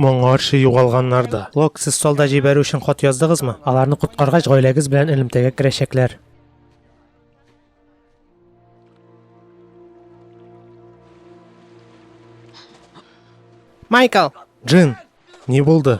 Моңарчы югалганнар да. Лок, сез солда җибәрү өчен хат яздыгызмы? Аларны коткаргач, гаиләгез белән элемтәгә керәчәкләр. Майкл! Джин, ни булды?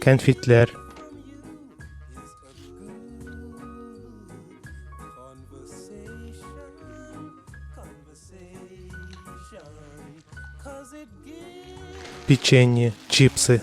Кәнфитләр. Печенье, чипсы.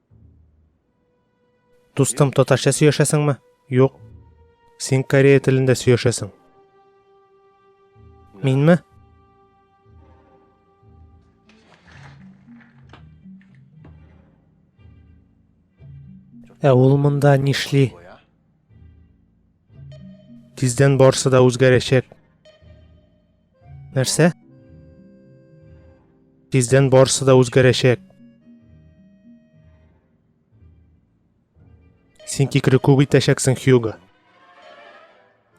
Дустым, татарча сөйләшәсеңме? Юк. Син корея телендә сөйләшәсең. Минме? Ә ул монда нишли? Тиздән барсы да үзгәрәчәк. Нәрсә? Тиздән барысы да үзгәрәчәк. Син кикре күп итәчәксең, Хьюго.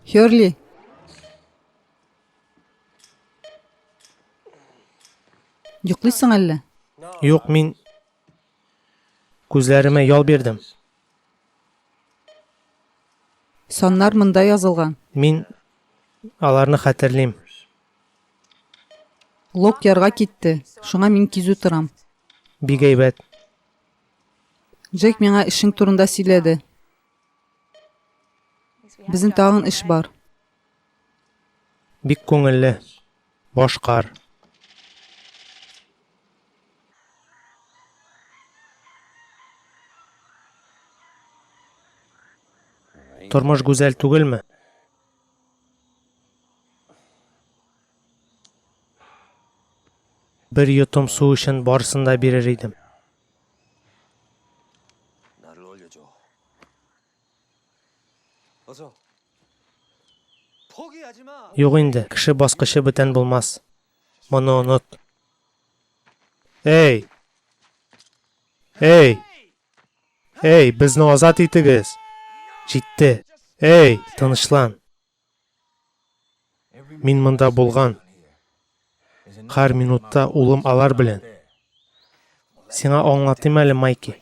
Херли. Йоклыйсың әллә? Юк, мин күзләремә ял бирдем. Саннар монда язылган. Мин аларны хәтерлим. Лок ярга китте, шуңа мин кизү торам. Бик әйбәт. Джек миңа эшең турында сөйләде. Безнең тагын эш бар. Бик күңелле. Башкар. Тормыш гүзәл түгелме? Бер йотым су өчен барысын да бирер идем. Юк инде, кеше баскычы бүтән булмас. Моны онот. Эй! Эй! Эй, безне азат итегез! Җитте. Эй, тынычлан. Мин монда булган. Һәр минутта улым алар белән. Сиңа аңлатыйм әле, Майки.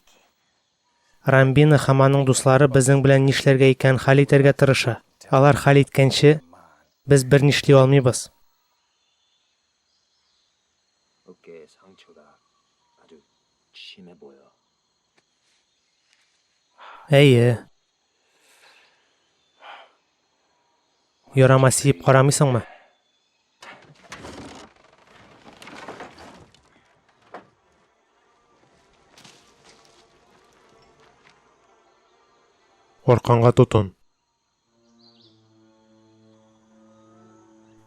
Рамбина һәм аның дуслары безнең белән нишләргә икәнен хәл итәргә тырыша. Алар хәл иткәнче, без бер нишли алмыйбыз. Әйе, Ярама сиеп карамыйсыңмы? Арканга тотын.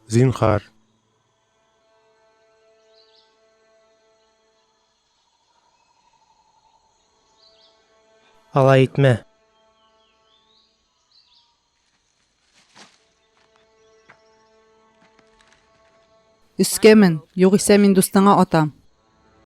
Зинхар. Алай итмә. Өскә мен, югыйсә мин дустыңа атам.